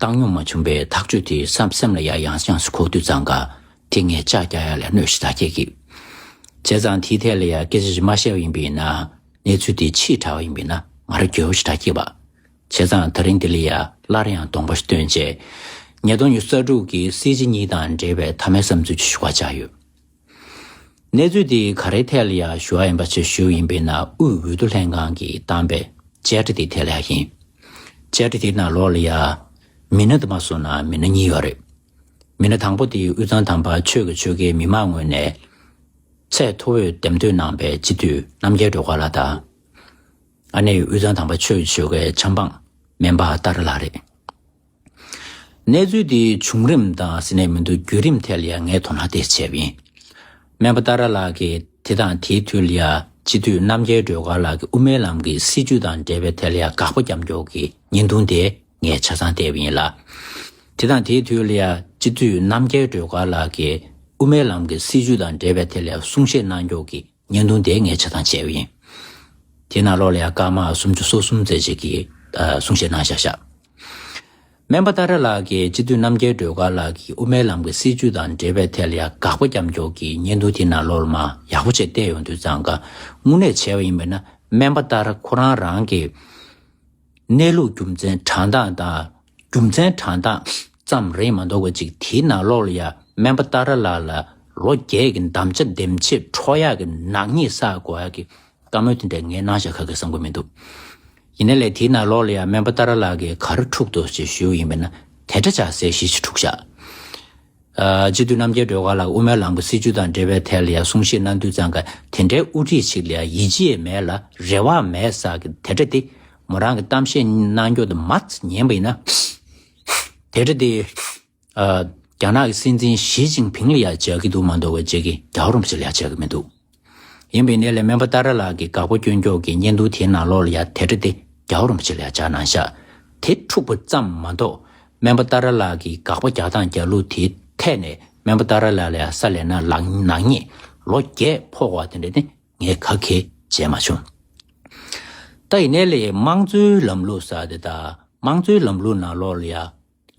བཏང་སྙོམས་མ་བྱུང་པའི་ཐག་གཅོད་དེ་སམ་སེམས་ལ་ཡ་ཡངས་ཡངས་སུ་འཁོར་དུས་ཙང་ཀ་དེ་ངས་ལྕགས་རྒྱག་ཡ་ལས་གནོད་ཞིག་ད་སྐྱེལ་གི། བྱས་ཙང་དེའི་ཐད་ལ་ཡ་སྐད་ཆ་ཞིག་མ་བཤད་པ་ཡིན་པས་ན་གནས་ཚུལ་དེ་ཕྱིས་དྲ་བ་ཡིན་པས་ན་ང་རང་གྱོད་བོ་ཞིག་ད་སྐྱེལ་བ། བྱས་ཙང་ད་རིང་འདི་ལ་ཡ་སླར་ཡང་གདོང་པ་ཞིག་སྟོན་རྗེས། ངས་དོན་གཉེར་གསར་དྲུག་གི་སྲིད་སྤྱི་གཉིས་དང་འབྲེལ་བའི་ཐ་མའི་བསམ་ཚུལ་གྱི་ཞུ་བ་བཅག་ཡོད། གནས་ཚུལ་དེ་ག་རེའི་ཐད་ལ་ཡང་ཞུ་བ་ཡིན་པ་ཆེད་ཞུ་ཡིན་པས་ན་དབུས་འོས་བསྡུ་ལྷན་ཁང་གིས་བཏང་པའི་བཅད་ཁྲ་དེའི་ཐད་ལ་ཡང་ཡིན། བཅད་ཁྲ་དེའི་ནང་ལོགས་ལ་ཡང། མི་སྣ་དུ་མ་གསུངས་ན་མི་སྣ་གཉིས་ཡོད་རེད། མི་སྣ་དང་པོ་དེ་དབུས་གཙང་དམ་པ་ཆོས་ཀྱི་ཆོལ་ཁའི་མི་དམངས་ངོས་ནས་ཚད་མཐོ་བོས་འདེམས་ཐོན་གནང་པའི་སྤྱི་འཐུས་རྣམ་རྒྱལ་སྒྲོལ་དཀར་ལགས་དང། ཨ་ནེ་དབུས་གཙང་དམ་པ་ཆོས་ཀྱི་ཆོལ་ཁའི་ཆབ་འབངས་སྨན་པ་སྟག་རི་ལགས་རེད། གནས་ཚུལ་དེའི་བྱུང་རིམ་དང་ཟིན་ནས་མི་འདུག་བརྒྱུད་རིམ་ཐད་ལ་ཡང་ངས་དོ་སྣང་དེ་བྱས་པ་ཡིན། སྨན་པ་ཏཱ་ར་ལགས་ཀྱིས་དེ་དང་དེའི་དུས་ལ་ཡང་སྤྱི་འཐུས་རྣམ་རྒྱལ་སྒྲོལ་དཀར་ལགས་ཀྱིས་དབུ་མའི་ལམ་གྱི་སྲིད་བྱུས་དང་འབྲེལ་བའི་ཐད་ལ་ཡང་དགག་པ་རྒྱབ་འཇོག་གི་ཉེས་རྡུང་དེ་ངས་ཆ་ཚང་བལྟས་པ་ཡིན་ལ། དེ་དང་དེའི་དུས་ལ་ཡང་སྤྱི་འཐུས་རྣམ་རྒྱལ་སྒྲོལ་དཀར་ལགས་ཀྱིས་དབུ་མའི་ལམ་གྱི་སྲིད་བྱུས་དང་འབྲེལ་བའི་ཐད་ལ་ཡང་གསུང་བཤད་གནང་འཇོག་གི་བརྙན་ཐུང་དེ་ངས་ཕྱི་དང་བྱས་པ་ཡིན། དེས་ན་ལོ་ལ་ཡང་སྐར་མ་སུམ་ཅུ་སོ་གསུམ་རྩེ་གཅིག་གིས་གསུང་བཤད་གནང་བཞག་བཞག། སྨན་པ་ཏཱ་རེ་ལགས་ཀྱིས་སྤྱི་འཐུས་རྣམ་རྒྱལ་སྒྲོལ་དཀར་ལགས་ཀྱིས་དབུ་མའི་ལམ་གྱི་སྲིད་བྱུས་དང་འབྲེལ་བའི་ཐད་ལ་ཡང་དགག་པ་རྒྱབ་འཇོག་གིས་བརྙན་ཐུང་དེ་ནང་ལོ་ལ་མ་ཡག་པོ་བྱས་བལྟས་ཡོང་དུས་གཙང་ཀ་དངུལ་ནས་བྱས་པ་ཡིན་པས་ན་སྨན་པ་ཏཱ་རེ་ཁོ་རང་རང་གི་གནས་ལུགས་རྒྱུ་མཚན་དྲང་གདངས་དང་རྒྱུ་མཚན་གྲངས་རྟགས་ཙམ་རེད་མ་འདོག་གོ་ཅིག་དེའི་ནང་ལོགས་ལ་ཡ་སྨན་པ་ཏཱ་ར་ལགས་ལ་ལོ་བརྒྱད་ཀྱི་འདམ་བྱ་འདེམས་བྱེད་འཕྲོག་ཡག་གི་ནག་ཉེས་བསགས་དགོས་ཡག་གི་བཀའ་མོལ་དེ་འདྲ་ངས་གནང་བཞག་ཁ་གི་བསམ་གོ་མི་འདུག་ཡིན་ན་ལས་དེའི་ནང་ལོགས་ལ་ཡ་སྨན་པ་ཏཱ་ར་ལགས་ཀྱིས་ག་རེ་འཁྲུག་འདུག་ཅེས་ཞུས་ཡོད་ཡིན་པས་ན་དེ་འདྲ་བྱ་ཟེར་ཞེས་ཞུ་འཁྲུག་བཞག། སྤྱི་འཐུས་རྣམ་རྒྱལ་སྒྲོལ་དཀར་ལགས་དབུ་མའི་ལམ་གྱི་སྲིད་བྱུས་དང་འབྲེལ་བའི་ཐད་ལ་ཡང་གསུང་བཤད་གནང་དུས་ཙང་ཀ་དེ་འདྲའི་དབུ་ཁྲིད་ཅིག་ལ་ཡང་ཡིད་ཆེས་མེད་ལ་རེ་བ་མེད་ས་ཀྱི་དེ་འདྲ་དེ་མོ་རང་གི་གཏམ་བཤད་གནང་སྐྱོང་དུ་མ་ཉན་པ་ཡིན་ན། དེ་འདྲ་དེ། རྒྱ་ནག་གི་སྲིད་འཛིན་ཞིས་ཅིང་ཕིང་ལ་ཡང་བྱ་གི་འདུག་མ་འདོར་བའི་རྗེས་ཀྱི་རྒྱ་རོམ་བྱེད་ལ་ཡང་བྱ་གི་མི་འདུག། ཡིན་པའི་གནས་ལས་སྨན་པ་ཏཱ་ར་ལགས་ཀྱིས་དགའ་པོ་སྐྱོན་འགྱོགས་ཀྱིས་བརྙན་ཐུང་དེའི་ནང་ལོགས་ལ་ཡ་དེ་དྲི་དེ་རྒྱག་རུང་ཅི་ལ་བྱ་གནང་ཤག་དེ་འཁྲུག་པ་ཙམ་མ་གཏོགས་སྨན་པ་ཏཱ་ར་ལགས་ཀྱིས་དགག་པ་རྒྱག་སྟངས་རྒྱག་ལུགས་དེའི་ཐད་ནས་སྨན་པ་ཏཱ་ར་ལགས་ལ་ཡ་ས་ལས་ན་ལག་ནག་ཉེས་ལོ་བརྒྱད་ཕོག་བ་དེ་འདྲ་ནི་ངས་ཁ་ཁེ་བྱས་མ་བྱུང། ད་ཡིན་གནས་ལས་དམངས་གཙོའི་ལམ་ལུགས་ས་དེ་དང་དམངས་གཙོའི་ལམ་ལུགས་ནང་ལོགས་ལ་ཡ།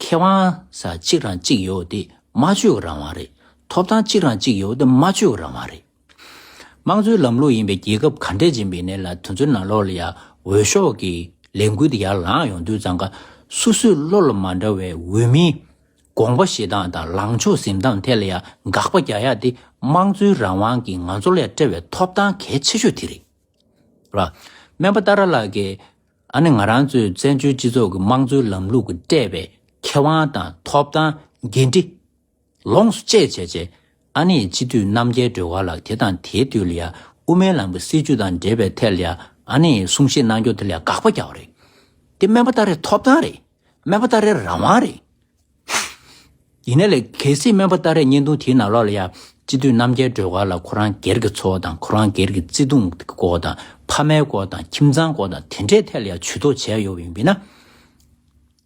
ཁེ་དབང་ས་གཅིག་རང་གཅིག་ཡོད་དེ་སྨྲ་བརྗོད་རང་དབང་རེད། ཐོབ་ཐང་གཅིག་རང་གཅིག་ཡོད་དེ་སྨྲ་བརྗོད་རང་དབང་རེད། དམངས་གཙོའི་ལམ་ལུགས་ཡིན་པའི་རྒྱལ་ཁབ་ག་འདྲས་ཅན་པའི་གནས་ལ་དུས་ཚོད་ནང་ལོག་ལ་ཡང་འོས་ཤོག་གི་ལས་འགུལ་དེ་ཡར་ལངས་ཡོང་དུས་ཙང་ཀ་སུ་སུའི་བློ་ལ་མ་འདྲ་བའི་འོས་མིའི་དགོངས་པ་བཞེས་སྟངས་དང་ལངས་ཕྱོགས་ཟིན་སྟངས་ཐད་ལ་ཡང་དགག་པ་རྒྱག་ཡ་དེ་དམངས་གཙོའི་རང་དབང་གིས་ང་ཚོ་ལ་སྤྲད་བའི་ཐོབ་ཐང་གལ་ཆེ་ཤོས་དེ་རེད། སྨན་པ་ཏཱ་ར་ལགས་ཀྱིས། ཨ་ནི་ང་རང་ཚོའི་བཙན་བྱོལ་སྤྱི་ཚོགས་ཀྱི་དམངས་གཙོའི་ལམ་ལུགས་ཀྱི་སྤྲད་པའི་ཁེ་དབང་དང་ཐོབ་ཐང་འགན་འཁྲི། ལོངས་སུ་སྤྱད་བྱས་རྗེས་ཨ་ནི་སྤྱི་འཐུས་རྣམ་རྒྱལ་སྒྲོལ་བ་ལགས་དེ་དང་དེའི་དུས་ལ་ཡ་དབུ་མའི་ལམ་གྱི་སྲིད་བྱུས་དང་འབྲེལ་བའི་ཐད་ལ་ཡ་ཨ་ནི་གསུང་བཤད་གནང་རྒྱུ་དེ་ལ་དགག་པ་རྒྱག་པ་རེད། དེ་སྨན་པ་ཏཱ་རེའི་ཐོབ་ཐང་རེད། སྨན་པ་ཏཱ་རེའི་རང་དབང་རེད། ཡིན་ན་ལས་གལ་སྲིད་སྨན་པ་སྟག་རས་བརྙན་ཐུང་དེའི་ནང་ལོགས་ལ་ཡང་སྤྱི་འཐུས་རྣམ་རྒྱལ་སྒྲོལ་དཀར་ལ་ཁོ་རང་སྒེར་གྱི་འཚོ་བ་དང་ཁོ་རང་སྒེར་གྱི་བརྩེ་དུང་གི་སྐོར་དང་ཕ་མའི་སྐོར་དང་ཁྱིམ་ཚང་སྐོར་དང་དེ་འདྲའི་ཐད་ལ་ཡང་བྱུས་གཏོགས་བྱས་ཡོད་ཡིན་པས་ན།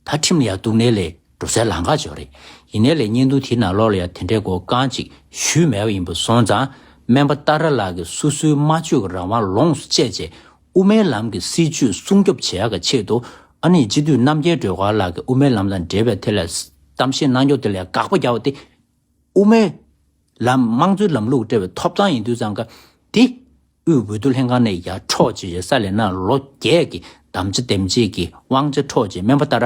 ད་ཁྲིམས་ལ་ཡང་གཏུགས་ནས་ལས་འགྲོ་སའི་ལམ་ཁ་འཇོག་རེད། ཡིན་ན་ལས་བརྙན་ཐུང་དེའི་ནང་ལོགས་ལ་ཡང་དེ་འདྲའི་སྐོར་རྐང་གཅིག་ཞུས་མེད་པ་ཡིན་པ་སོང་ཙང་སྨན་པ་སྟག་ར་ལགས་ཀྱིས་སོ་སོའི་སྨྲ་བརྗོད་ཀྱི་རང་དབང་ལོངས་སུ་སྤྱད་རྗེས་དབུ་མའི་ལམ་གྱི་སྲིད་བྱུས་སྲུང་སྐྱོབ་བྱེད་ཡག་གི་ཆེད་དུ་ཨ་ནེ་སྤྱི་འཐུས་རྣམ་རྒྱལ་སྒྲོལ་དཀར་ལགས་ཀྱིས་དབུ་མའི་ལམ་དང་འབྲེལ་བའི་ཐད་ལ་གཏམ་བཤད་གནང་སྐྱོང་དེ་ལས་དགག་པ་རྒྱག་པ་དེ། དབུ་མའི་ལམ་དམངས་གཙོའི་ལམ་ལུགས་སྤྲད་པའི་ཐོབ་ཐང་ཡིན་དུས་ཙང་ཀ་དེ། དབུས་འོས་བསྡུ་ལྷན་ཁང་ནས་ཡར་འཕྲོག་བྱེད་བྱེད་ས་ལས་ན་ལོ་བརྒྱད་ཀྱི་གདམ་བྱ་འདེམས་བྱེད་ཀྱི་དབང་ཆ་འཕྲོག་བྱེད་སྨན་པ་ལྟར།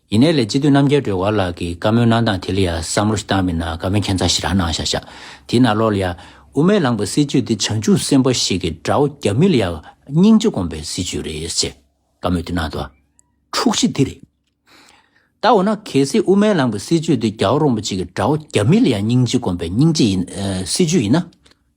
ཡིན་ནའི་ལས་སྤྱི་འཐུས་རྣམ་རྒྱལ་སྒྲོལ་དཀར་ལགས་ཀྱིས་བཀའ་མོལ་གནང་སྟངས་དེ་ལ་ཡང་བསམ་བློ་ཞིག་བཏང་མེད་ན་དགའ་མོས་མཁྱེན་ཚ་ཞིག་རང་གནང་བཞག་བཞག་དེས་ན་ལོག་ལ་ཡ། དབུ་མས་ལངས་པའི་སྲིད་ཇུས་འདི་བྱང་ཆུབ་སེམས་དཔའ་ཞིག་གི་དགྲ་བོ་རྒྱ་མི་ལ་ཡ། སྙིང་རྗེ་སྒོམ་པའི་སྲིད་ཇུས་རེད་ཅེས་བཀའ་མོལ་དེ་གནང་ཐོག་འཁྲུག་གཞི་འདི་རེད། ད་འོ་ན་གལ་སྲིད་དབུ་མས་ལངས་པའི་སྲིད་ཇུས་འདི་རྒྱ་བོ་རོང་པོ་ཅིག་གི་དགྲ་བོ་རྒྱ་མི་ལ་ཡ་སྙིང་རྗེ་སྒོམ་པའི་སྙིང་རྗེ་ཡིན། སྲིད་ཇུས་ཡིན་ན།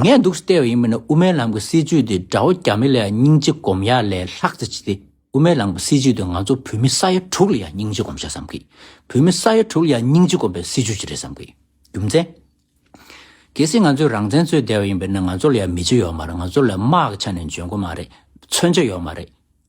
ངས་འདུག་སྟེར་བ་ཡིན་མིན་ནི་དབུ་མའི་ལམ་གྱི་སྲིད་ཇུས་དེ་དགྲ་བོ་རྒྱ་མི་ལ་ཡང་སྙིང་རྗེ་སྒོམ་ཡག་ལས་ལྷག་ཅི་ཆེ་སྟེ་དབུ་མའི་ལམ་གྱི་སྲིད་ཇུས་དེ་ང་ཚོ་བོད་མི་ས་ཡ་དྲུག་ལ་ཡང་སྙིང་རྗེ་སྒོམ་བྱ་བསམ་གི། བོད་མི་ས་ཡ་དྲུག་ལ་ཡང་སྙིང་རྗེ་སྒོམ་པའི་སྲིད་ཇུས་ཅི་རེད་བསམ་གི། རྒྱུ་མཚན། གལ་སྲིད་ང་ཚོས་རང་བཙན་རྩོད་བསྡད་པ་ཡིན་པས་ན་ང་ཚོ་ལ་ཡང་མི་ཆོས་ཡོད་མ་རེད་ང་ཚོ་ལ་དམག་གི་ཆ་ནས་འཇོན་གོ་མ་རེད། མཚོན་ཆ་ཡོད་མ་རེད།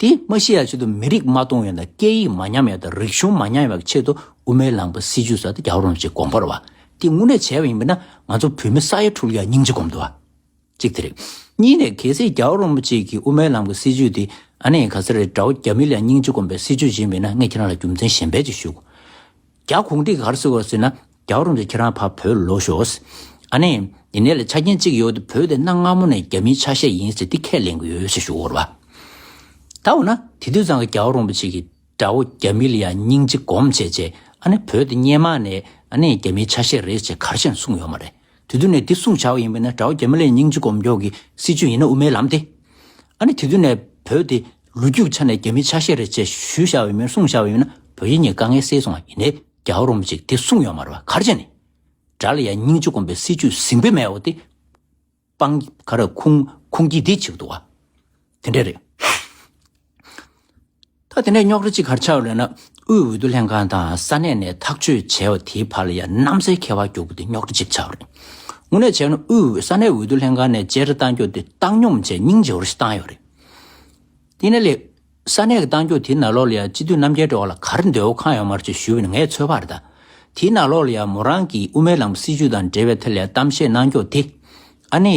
དེས་མ་ཤེས་ཡག་ཆེད་དུ་མི་རིགས་མ་སྟོང་ཡང་དང་སྐད་ཡིག་མ་ཉམས་ཡང་དང་རིག་གཞུང་མ་ཉམས་ཡང་བའི་ཆེད་དུ་དབུ་མའི་ལམ་པ་སྲིད་ཇུས་ཟ་དེ་རྒྱག་རུང་ཅེས་དགོངས་པར་བ་དེ་དངོས་གནས་བྱས་པ་ཡིན་པས་ན་ང་ཚོ་བོད་མི་ས་ཡ་དྲུག་ཡར་སྙིང་རྗེ་སྒོམ་དུ་བ། གཅིག་དེ་རེད། གཉིས་ནས་གལ་སྲིད་རྒྱག་རུང་མོ་ཅིག་གིས་དབུ་མའི་ལམ་གྱི་སྲིད་ཇུས་དེ་ཨ་ནེ་ག་ས་རེད་དགྲ་བོ་རྒྱ་མི་ལ་སྙིང་རྗེ་སྒོམ་པའི་སྲིད་ཇུས་བྱིན་པས་ན་ངས་ཁྱེད་རང་ལ་རྒྱུ་མཚན་གཞན་པས་ཅིག་ཞུ། རྒྱ་གུང་ཏི་གར་སོ་བ་ཟེར་ན་རྒྱ་བ་རུང་ཚོ་ཁྱེད་རང་ཕར་བོད་ལོག་ཤོགས། ཨ་ནེ། འདི་ནས་ལ་ཆ་རྐྱེན་གཅིག་ཡོད་དེ་བོད་དེ་གནའ་སྔ་མོ་ནས་རྒྱ་མིའི་ཆ་ཤས་ཡིན་ཟེར་དེ་ཁས་ལེན་གི་ཡོད་ཟེར་ཞུ་བོར་བ། ད་འོ་ན་དེ་དུས་ཙང་གི་རྒྱ་བ་རུང་བ་ཅིག་གི་དགྲ་བོ་རྒྱ་མི་ལ་ཡང་སྙིང་རྗེ་སྒོམ་བྱས་རྗེས་ཨ་ནེ་བོད་དེ་སྙེ་མ་ནས་ཨ་ནེ་རྒྱ་མིའི་ཆ་ཤས་རེད་ཅེས་གར་ཞེན་གསུངས་ཡོད་མ་རེད། དེ་དུས་ནས་དེ་སྲུང་བྱ་བ་ཡིན་པས་ན་དགྲ་བོ་རྒྱ་མི་ལའི་སྙིང་རྗེ་སྒོམ་སྐྱོང་གི་སྲིད་བྱུས་ཡིན་ན་དབུ་མའི་ལམ་སྟེ། ཨ་ནི་དེ་དུས་ནས་བོད་དེ་ལོ་རྒྱུས་ཆ་ནས་རྒྱ་མིའི་ཆ་ཤས་རེད་ཅེས་ཞུ་བྱ་བ་ཡིན་མོད་སྲུང་བྱ་བ་ཡིན་ན་བོད་ཡིག་གཉིས་དཀའ་ངལ་སེལ་སོང་བ་ཡིན་ནའི་རྒྱ་བོ་རུང་བ་ཅིག་དེ་སྲུང་ཡོང་མ་རུང་བ་གར་བྱས་ནས། དགྲ་ལ་ཡང་སྙིང་རྗེ་སྒོམ་པའི་སྲིད་བྱུས་ཟིང་པོ་མེད་བ་དེ། སྤང། ག་རེ་ཁུང་ཁུང་སྐྱིད་སྡིག་ཅིག་འདུག་ཨ། དེ་འདྲས་རེད། ད་དེ་འདྲས་རྙོག་དྲ་གཅིག་གར་ཆགས་ལོས་ན་དབུས་འོས་བསྡུ་ལྷན་ཁང་དང་ས་གནས་ནས་ཐག་གཅོད་བྱས་བ་དེའི་བར་ལ་ཡང་གནམ་སའི་ཁེ་བ་རྒྱུག་པོ་དེ་རྙོག་དྲ་གཅིག་ཆགས་རེད། དངོས་གནས་བྱས་ན་དབུས་ས་གནས་འོས་བསྡུ་ལྷན་ཁང་ནས་བཅད་ཁྲ་གཏང་རྒྱུ་དེ་བཏང་སྙོམས་བཅས་སྙིང་རྗེ་བོར་ཞིག་བཏང་ཡོད་རེད། དེ་ནས་ལས། ས་གནས་ཀྱི་གཏང་རྒྱུ་དེའི་ནང་ལོགས་ལ་ཡང་སྤྱི་འཐུས་རྣམ་རྒྱལ་འགྲོ་བ་ལ་གར་འདོད་བོ་གང་ཡོད་མར་བཅོས་ཞུས་བས་ན་ངས་ཚོད་དཔག་རེ་ད། དེའི་ནང་ལོགས་ལ་ཡང་མོ་རང་གིས་དབུ་མའི་ལམ་སྲིད་བྱུས་དང་འབྲེལ་བའི་ཐད་ལ་ཡང་གཏམ་བཤད་གནང་རྒྱུ་དེ། ཨ་ནེ།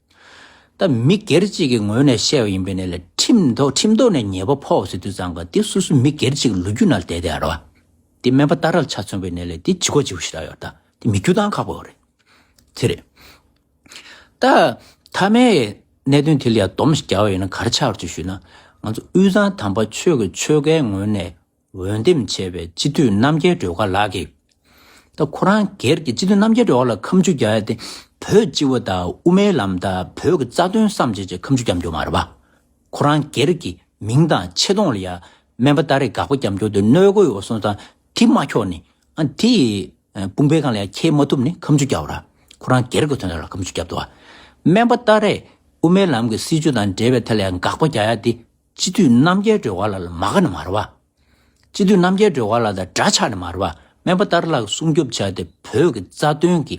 ད་མི་སྒེར་གཅིག་གི་ངོས་ནས་བཤད་པ་ཡིན་པས་ནས་ལ་ཁྲིམས་ཐོག་ཁྲིམས་ཐོག་ནས་ཉེས་པ་ཕོག་ཟེར་དུས་ཙང་ག་དེ་སུ་སུ་མི་སྒེར་གཅིག་གི་ལོ་རྒྱུས་ནང་བསྡད་དེ་ཨ་རོ། དེ་སྨན་པ་རྟ་རལ་ཆ་མཚོན་པའི་ནས་ལས་དེ་ཇི་གོ་ཇི་གོ་ཞིག་རག་ཡོད་ད་དེ་མི་རྒྱུ་ཐང་ཁག་པོ་ཨོ་རེད་དེ་རེད། ད་ཐ་མའི་གནད་དོན་དེ་ལ་ཡང་སྡོམ་ཞིག་རྒྱག་པ་ཡོད་ན་གར་ཆག་རོགས་ཅིག་ཞུས་ན། ང་ཚོ་དབུས་གཙང་དམ་པ་ཆོས་ཀྱི་ཆོལ་ཁའི་ངོས་ནས། འོས་འདེམས་བྱས་པའི་སྤྱི་འཐུས་རྣམ་རྒྱལ་སྒྲོལ་དཀར་ལགས་ཀྱིས། ད་ཁོ་རང་སྒེར་གྱི་སྤྱི་འཐུས་རྣམ་རྒྱལ་སྒྲོལ་དཀར་ལ་ཁམས་ཆུ་རྒྱ་ཏེ་བོད་སྤྱི་བོ་དང་དབུ་མའི་ལམ་དང་བོད་ཀྱི་རྩ་དོན་བསམ་བྱེད་ཀྱི་ཁམས་ཆུ་རྒྱབ་འཇོག་མ་རེད་པ། ཁོ་རང་སྒེར་གྱི་མིང་དང་ཆེ་མཐོང་ལ་ཡང་སྨན་པ་ལྟར་རེ་འགག་པ་རྒྱབ་འཇོག་དེ་གནོད་གོ་ཡོ་སོང་ཙང་དེ་མ་ཁྱོག་ནི་ཨང་དེ་དཔུང་པའི་ཁང་ལ་ཡང་ཁྱེར་མ་ཐུབ་ནི་ཁམས་ཆུ་རྒྱབ་ར་ཁོ་རང་སྒེར་གྱི་དོན་དག་ལ་ཁམས་ཆུ་རྒྱབ་འདུག་བ། སྨན་པ་ལྟར་རེ་དབུ་མའི་ལམ་གྱི་སྲིད་བྱུས་དང་འབྲེལ་བའི་ཐད་ལ་ཡང་འགག་པ་རྒྱག་ཡ་དེ། སྤྱི་འཐུས་རྣམ་རྒྱལ་སྒྲོལ་བ་ལ་ལ་མ་ག་ནས་མ་ར་བ། སྤྱི་འཐུས་རྣམ་རྒྱལ་སྒྲོལ་བ་ལ་ད་དགྲ་ཆགས་ནས་མ་ར་བ་སྨན་པ་ལྟར་ལག་སྲུང་སྐྱོབ་བྱ་སྟེ་བོད་ཀྱི་རྩ་དོན་གྱི་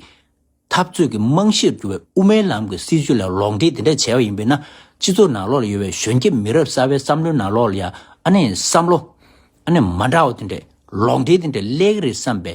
འཐབ་རྩོད་ཀྱི་རྨང་གཞིར་གྱུར་བའི་དབུ་མའི་ལམ་གྱི་སྲིད་བྱུས་ལ་ལོག་འགྲེལ་དེ་འདྲ་བྱས་པ་ཡིན་པས་ན་སྤྱི་ཚོགས་ནང་ལོག་ལ་ཡོད་པའི་གཞོན་སྐྱེས་མི་རབས་གསར་བའི་བསམ་བློའི་ནང་ལོག་ལ་ཡང་ཨ་ནེ་བསམ་བློ་ཨ་ནེ་མ་འདྲ་བ་དེ་འདྲས་ལོག་འགྲེལ་དེ་འདྲས་སླེག་གི་རེད་བསམ་པའི་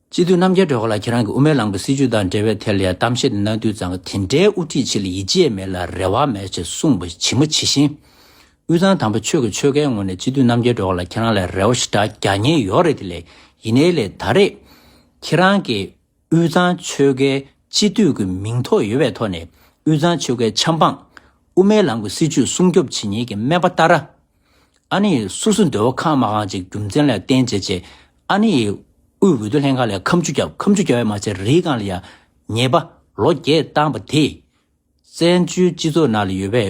སྤྱི་འཐུས་རྣམ་རྒྱལ་སྒྲོལ་དཀར་ལགས་ཁྱེད་རང་གིས་དབུ་མའི་ལམ་གྱི་སྲིད་བྱུས་དང་འབྲེལ་བའི་ཐད་ལ་ཡང་གཏམ་བཤད་དེ་གནང་དུས་ཙང་དེ་འདྲའི་དབུ་ཁྲིད་ཆེ་ལ་ཡིད་ཆེས་མེད་ལ་རེ་བ་མེད་ཅེས་གསུངས་པ་ཇི་མ་ཇི་བཞིན། དབུས་གཙང་དང་པོ་ཆོས་ཀྱི་ཆོལ་ཁའི་ངོས་ནས་སྤྱི་འཐུས་རྣམ་རྒྱལ་སྒྲོལ་དཀར་ལགས་ཁྱེད་རང་ལ་རེ་བ་ཞེ་དྲག་རྒྱག་ཉེན་ཡོད་རེད་དེ་ལས་ཡིན་ནའི་ལས་ད་རེས་ཁྱེད་རང་གིས་དབུས་གཙང་ཆོལ་ཁའི་སྤྱི་འཐུས་ཀྱི་མིང་ཐོ་ཡོད་པའི་ཐོག་ནས་དབུས་གཙང་ཆོལ་ཁའི་ཆབ་འབངས་དབུ་མའི་ལམ་གྱི་སྲིད་བྱུས་སྲུང་སྐྱོབ་བྱེད་ཉེན་གྱི་སྨན་པ་ཏཱ་ར་ཨ་ནི་ཡིས་སོ་སོའི་འདོད་བ་ཁ་མ་གང་ཅིག་རྒྱུ་མཚན་ལ་བརྟེན་བྱས་རྗེས་ཨ་ནི་ཡིས་དབུས་འོས་བསྡུ་ལྷན་ཁང་ལས་ཁམ་ཆུ་བརྒྱབ་ཁམ་ཆུ་བརྒྱབ་ཡང་མ་ཚད་རིའི་སྒང་ལ་ཡང་ཉེས་པ་ལོ་བརྒྱད་བཏང་བ་དེས། བཙན་བྱོལ་སྤྱི་ཚོགས་ནང་ལ་ཡོད་པའི་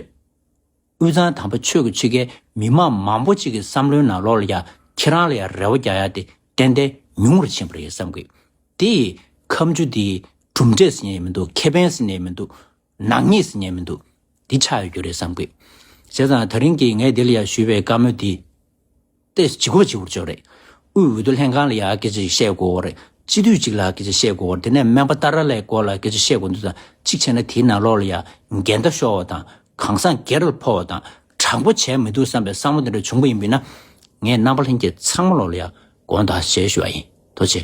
དབུས་གཙང་དམ་པ་ཆོས་ཀྱི་ཕྱེད་ཀའི་མི་དམངས་མང་པོ་ཅིག་གི་བསམ་བློའི་ནང་ལོགས་ལ་ཡང་ཁྱེད་རང་ལ་ཡང་རེ་བ་རྒྱག་ཡ་དེ་ཏན་ཏན་ཉུང་ངུར་ཕྱིན་པ་རེད་བསམ་གི། དེ་ཡིས་ཁམ་ཆུ་དེ་གྲུབ་འབྲས་ཟེར་ནས་མི་འདུག་ཁེ་ཕན་ཟེར་ནས་མི་འདུག་ནག་ཉེས་སུ་ཉན་མི་འདུག་འདི་ཆགས་ཡོད་རྒྱུ་རེད་བསམ་དགོས། བྱས་ཙང་ད་རིང་གི་ངས་དེ་ལ་ཡང་ཞུས་པའི་བཀའ་མོལ་འདི་ལྟས་སུ་ཇི་དགོས་ཇི་བོར་བྱོས་རེད། དབུས་འོས་བསྡུ་ལྷན་ཁང་ལ་ཡང་སྐད་ཆ་ཞིག་བཤད་དགོས་རེད། སྤྱི་འཐུས་གཅིག་ལ་སྐད་ཆ་བཤད་དགོས་རེད་དེ་ནས་སྨན་པ་ཏཱ་ར་ལའི་སྐོར་ལ་སྐད་ཆ་བཤད་དགོས་འདུག་ཙང་གཅིག་བྱས་ན་དེའི་ནང་ལོགས་ལ་ཡང་འགལ་ཟླ་ཤོར་བ་དང་གང་ཟག་སྒེར་ལ་འཕོ་བ་དང་དྲང་པོ་བྱས་མི་འདུག་བསམ་པའི་བསམ་བློ་དེ་འདྲ་བྱུང་པ་ཡིན་དུས་ན་ངས་རྣམ་པ་ལྷན་རྒྱས་ཚང་མ་ལོགས་ལ་ཡང་དགོངས་དག་བྱས་ཞུ་བ་ཡིན། དོ་ཆེ།